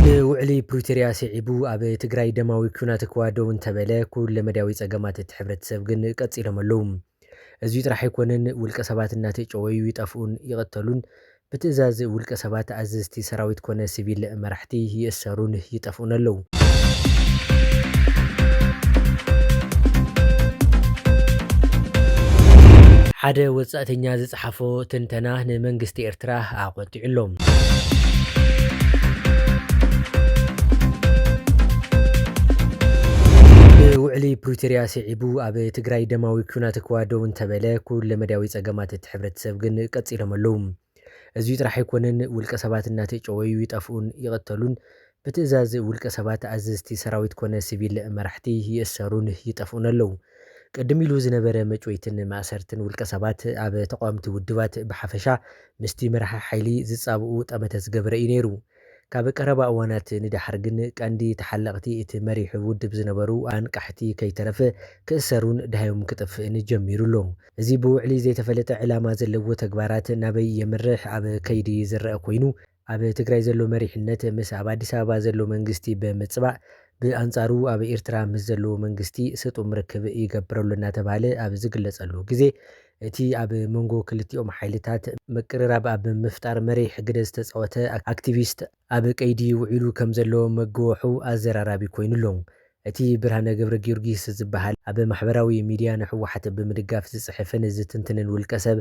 ንውዕሊ ፕሪቶርያ ስዒቡ ኣብ ትግራይ ደማዊ ኲናት እኳ ደው እንተበለ ኩለ መዳያዊ ፀገማት እቲ ሕብረተሰብ ግን ቀፂሎም ኣለዉ። እዙይ ጥራሕ ኣይኮነን ውልቀ ሰባት እናተጨወዩ ይጠፍኡን ይቕተሉን ብትእዛዝ ውልቀ ሰባት ኣዘዝቲ ሰራዊት ኮነ ሲቪል መራሕቲ ይእሰሩን ይጠፍኡን ኣለዉ። ሓደ ወጻእተኛ ዝጸሓፎ ትንተና ንመንግስቲ ኤርትራ ኣቖጢዑ ኣሎ። ብውዕሊ ፕሪቶርያ ስዒቡ ኣብ ትግራይ ደማዊ ኲናት እኳ ደው እንተበለ ኩለመዳያዊ ጸገማት እቲ እቲ ሕብረተሰብ ግን ቀፂሎም ኣለው። እዙይ ጥራሕ ኣይኮነን ውልቀ ሰባት እናተጨወዩ ይጠፍኡን ይቕተሉን፣ ብትእዛዝ ውልቀ ሰባት ኣዘዝቲ ሰራዊት ኮነ ስቪል መራሕቲ ይእሰሩን ይጠፍኡን ኣለው። ቅድም ኢሉ ዝነበረ መጭወይትን ማእሰርትን ውልቀ ሰባት ኣብ ተቓወምቲ ውድባት ብሓፈሻ ምስቲ መራሒ ሓይሊ ዝፃብኡ ጠመተ ዝገበረ እዩ ነይሩ። ካብ ቀረባ እዋናት ንደሓር ግን ቀንዲ ተሓለቕቲ እቲ መሪሕ ውድብ ዝነበሩ ኣንቃሕቲ ከይተረፈ ክእሰሩን ደሃዮም ክጠፍእን ጀሚሩ ኣሎ። እዚ ብውዕሊ ዘይተፈለጠ ዕላማ ዘለዎ ተግባራት ናበይ የምርሕ ኣብ ከይዲ ዝረኣ ኮይኑ ኣብ ትግራይ ዘሎ መሪሕነት ምስ ኣብ ኣዲስ ኣበባ ዘሎ መንግስቲ ብምፅባእ ብኣንፃሩ ኣብ ኤርትራ ምስ ዘለዎ መንግስቲ ስጡም ርክብ ይገብር ኣሎ እናተብሃለ ኣብ ዝግለፀሉ ግዜ እቲ ኣብ መንጎ ክልቲኦም ሓይልታት ምቅርራብ ኣብ ምፍጣር መሪሕ ግደ ዝተጻወተ ኣክቲቪስት ኣብ ቀይዲ ውዒሉ ከም ዘሎ መገወሑ ኣዘራራቢ ኮይኑ ኣሎ። እቲ ብርሃነ ገብረጊዮርጊስ ዝበሃል ኣብ ማሕበራዊ ሚድያ ንህወሓት ብምድጋፍ ዝጽሕፍን ዝትንትንን ውልቀሰብ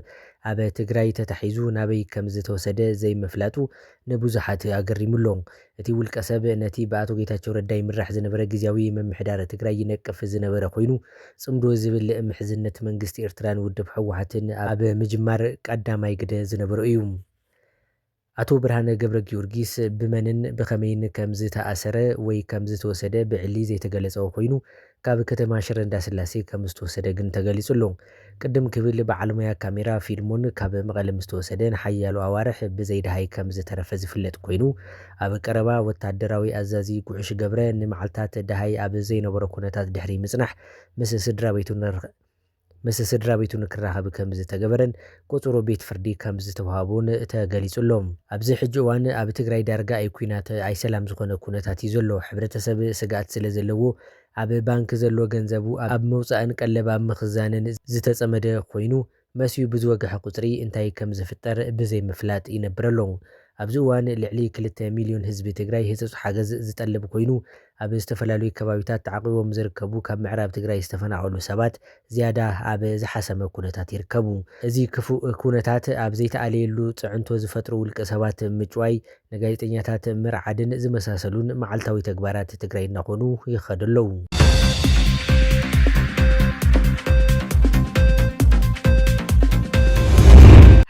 ኣብ ትግራይ ተታሒዙ ናበይ ከም ዝተወሰደ ዘይምፍላጡ ንብዙሓት ኣገሪሙ ኣሎ። እቲ ውልቀሰብ ነቲ ብኣቶ ጌታቸው ረዳ ይምራሕ ዝነበረ ግዝያዊ ምምሕዳር ትግራይ ይነቅፍ ዝነበረ ኮይኑ፣ ፅምዶ ዝብል ምሕዝነት መንግስቲ ኤርትራን ውድብ ህወሓትን ኣብ ምጅማር ቀዳማይ ግደ ዝነበሮ እዩ። ኣቶ ብርሃነ ገብረጊዮርጊስ ብመንን ብኸመይን ከምዝተኣሰረ ወይ ከምዝተወሰደ ብዕሊ ዘይተገለፀ ኮይኑ፣ ካብ ከተማ ሽረ እንዳስላሴ ከም ዝተወሰደ ግን ተገሊጹ ኣሎ። ቅድም ክብል በዓል ሞያ ካሜራ ፊልሞን ካብ መቐለ ምስ ተወሰደ ንሓያሎ ኣዋርሕ ብዘይደሃይ ከም ዝተረፈ ዝፍለጥ ኮይኑ፣ ኣብ ቀረባ ወተሃደራዊ ኣዛዚ ጉዕሽ ገብረ ንመዓልታት ደሃይ ኣብ ዘይነበሮ ኩነታት ድሕሪ ምጽናሕ ምስ ስድራቤቱ ንርክብ ምስ ስድራቤቱ ንክራኸብ ከምዝተገበረን ቁጽሩ ቤት ፍርዲ ከምዝተውሃቦን ተገሊጹ ኣሎ። ኣብዚ ሕጂ እዋን ኣብ ትግራይ ዳርጋ ኣይ ኩናት ኣይ ሰላም ዝኾነ ኩነታት እዩ ዘሎ። ሕብረተሰብ ስግኣት ስለዘለዎ ኣብ ባንኪ ዘሎ ገንዘቡ ኣብ ምውጻእን ቀለብ ኣብ ምኽዛንን ዝተጸመደ ኮይኑ መሲዩ ብዝወገሐ ቁጽሪ እንታይ ከምዝፍጠር ብዘይምፍላጥ ይነብር ኣሎ። ኣብዚ እዋን ልዕሊ ክልተ ሚልዮን ህዝቢ ትግራይ ህጹጽ ሓገዝ ዝጠልብ ኮይኑ፣ ኣብ ዝተፈላለዩ ከባቢታት ተዓቚቦም ዝርከቡ ካብ ምዕራብ ትግራይ ዝተፈናቐሉ ሰባት ዝያዳ ኣብ ዝሓሰመ ኩነታት ይርከቡ። እዚ ክፉእ ኩነታት ኣብ ዘይተኣለየሉ ፅዕንቶ ዝፈጥሩ ውልቀ ሰባት ምጭዋይ፣ ንጋዜጠኛታት ምርዓድን ዝመሳሰሉን መዓልታዊ ተግባራት ትግራይ እናኾኑ ይኸዱ ኣለው።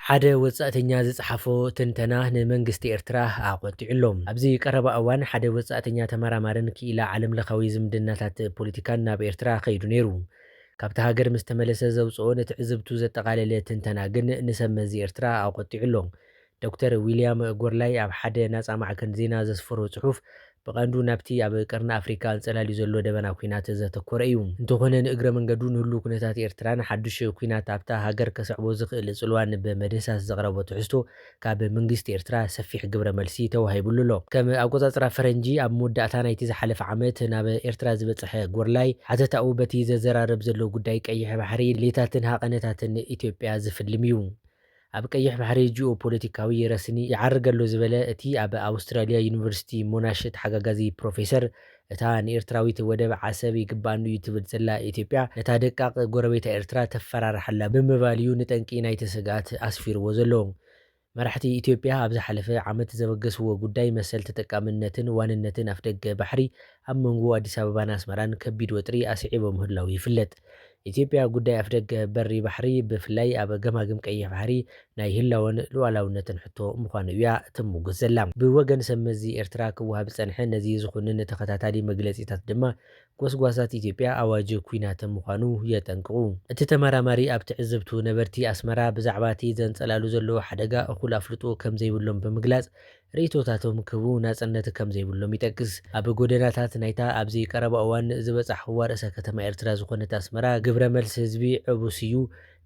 ሓደ ወፃእተኛ ዝፀሓፎ ትንተና ንመንግስቲ ኤርትራ ኣቝ። ኣብርቲዑ'ሎ። ኣብዚ ቀረባ እዋን ሓደ ወጻእተኛ ተመራማርን ክኢላ ዓለምለኻዊ ዝምድናታት ፖለቲካን ናብ ኤርትራ ከይዱ ነይሩ። ካብታ ሃገር ምስ ተመለሰ ዘውጽኦ ንትዕዝብቱ ዘጠቓለለ ትንተና ግን ንሰብ መዚ ኤርትራ ኣቖጢዑ'ሎ። ዶክተር ዊልያም ጎርላይ ኣብ ሓደ ናጻ ማዕከን ዜና ዘስፈሮ ጽሑፍ ብቐንዱ ናብቲ ኣብ ቀርኒ ኣፍሪቃ ኣንጸላልዩ ዘሎ ደበና ኲናት ዘተኮረ እዩ። እንተኾነ ንእግረ መንገዱ ንህሉው ኩነታት ኤርትራን ሓዱሽ ኲናት ኣብታ ሃገር ከስዕቦ ዝኽእል ጽልዋን ብምድህሳስ ዘቕረቦ ትሕዝቶ ካብ መንግስቲ ኤርትራ ሰፊሕ ግብረ መልሲ ተዋሂብሉ ኣሎ። ከም ኣቆጻጽራ ፈረንጂ ኣብ መወዳእታ ናይቲ ዝሓለፈ ዓመት ናብ ኤርትራ ዝበጸሐ ጎርላይ ሓተታኡ በቲ ዘዘራርብ ዘሎ ጉዳይ ቀይሕ ባሕሪ ሌታትን ሃቐነታትን ኢትዮጵያ ዝፍልም እዩ። ኣብ ቀይሕ ባሕሪ ጂኦ ፖለቲካዊ ረስኒ ይዓርግ ኣሎ ዝበለ እቲ ኣብ ኣውስትራልያ ዩኒቨርሲቲ ሞናሽ ተሓጋጋዚ ፕሮፌሰር እታ ንኤርትራዊት ወደብ ዓሰብ ይግብኣኒ'ዩ ትብል ዘላ ኢትዮጵያ፣ ነታ ደቃቕ ጎረቤታ ኤርትራ ተፈራርሓ'ላ ብምባል'ዩ ንጠንቂ ናይቲ ስግኣት ኣስፊርዎ ዘሎ። መራሕቲ ኢትዮጵያ ኣብ ዝሓለፈ ዓመት ዘበገስዎ ጉዳይ መሰል ተጠቃምነትን ዋንነትን ኣፍደገ ባሕሪ ኣብ መንጎ ኣዲስ ኣበባን ኣስመራን ከቢድ ወጥሪ ኣስዒቦ ምህላዉ ይፍለጥ። ኢትዮጵያ ጉዳይ ኣፍደገ በሪ ባሕሪ ብፍላይ ኣብ ገማግም ቀይሕ ባሕሪ ናይ ህላወን ሉኣላውነትን ሕቶ ምዃኑ እያ ትምጉት ዘላ። ብወገን ሰብ መዚ ኤርትራ ክወሃብ ዝጸንሐ ነዚ ዝኹንን ተኸታታሊ መግለጺታት ድማ ጎስጓሳት ኢትዮጵያ ኣዋጅ ኩናት ምዃኑ የጠንቅቑ። እቲ ተመራማሪ ኣብ ትዕዝብቱ ነበርቲ ኣስመራ ብዛዕባ እቲ ዘንጸላሉ ዘሎ ሓደጋ እኹል ኣፍልጦ ከምዘይብሎም ብምግላጽ ርእይቶታቶም ክህቡ ናጽነት ከም ዘይብሎም ይጠቅስ። ኣብ ጎደናታት ናይታ ኣብዚ ቀረባ እዋን ዝበጻሕኩዋ ርእሰ ከተማ ኤርትራ ዝኾነት ኣስመራ ግብረ መልሲ ህዝቢ ዕቡስ እዩ።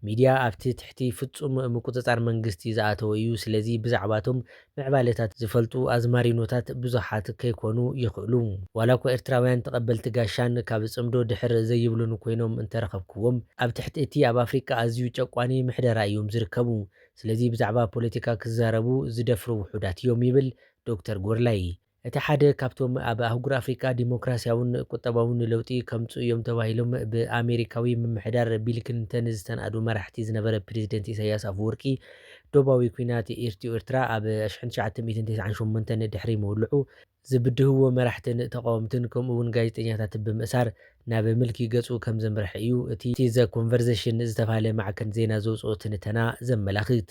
ሚድያ ኣብቲ ትሕቲ ፍጹም ምቁጽጻር መንግስቲ ዝኣተወ እዩ። ስለዚ ብዛዕባ'ቶም ምዕባለታት ዝፈልጡ ኣዝማሪኖታት ብዙሓት ከይኮኑ ይኽእሉ። ዋላ'ኳ ኤርትራውያን ተቐበልቲ ጋሻን ካብ ጽምዶ ድሕር ዘይብሉን ኮይኖም እንተረኸብኩዎም፣ ኣብ ትሕቲ እቲ ኣብ ኣፍሪቃ ኣዝዩ ጨቋኒ ምሕደራ እዮም ዝርከቡ። ስለዚ ብዛዕባ ፖለቲካ ክዛረቡ ዝደፍሩ ውሑዳት እዮም ይብል ዶክተር ጎርላይ። እቲ ሓደ ካብቶም ኣብ ኣህጉር ኣፍሪቃ ዲሞክራሲያውን ቁጠባውን ለውጢ ከምጽኡ እዮም ተባሂሎም ብኣሜሪካዊ ምምሕዳር ቢል ክሊንተን ዝተናእዱ መራሕቲ ዝነበረ ፕረዚደንት ኢሳይያስ ኣፈወርቂ ዶባዊ ኲናት ኢርትዮ-ኤርትራ ኣብ ኣሽሕን ትሽዓተ ሚእትን ተስዓን ሸሞንተን ድሕሪ ምውልዑ ዝብድህዎ መራሕትን ተቓወምትን ከምኡ'ውን ጋዜጠኛታት ብምእሳር ናብ ምልኪ ገጹ ከም ዘምርሐ እዩ እቲ ዘ ኮንቨርዘሽን ዝተባህለ ማዕከን ዜና ዘውጽኦ ትንተና ዘመላኽት።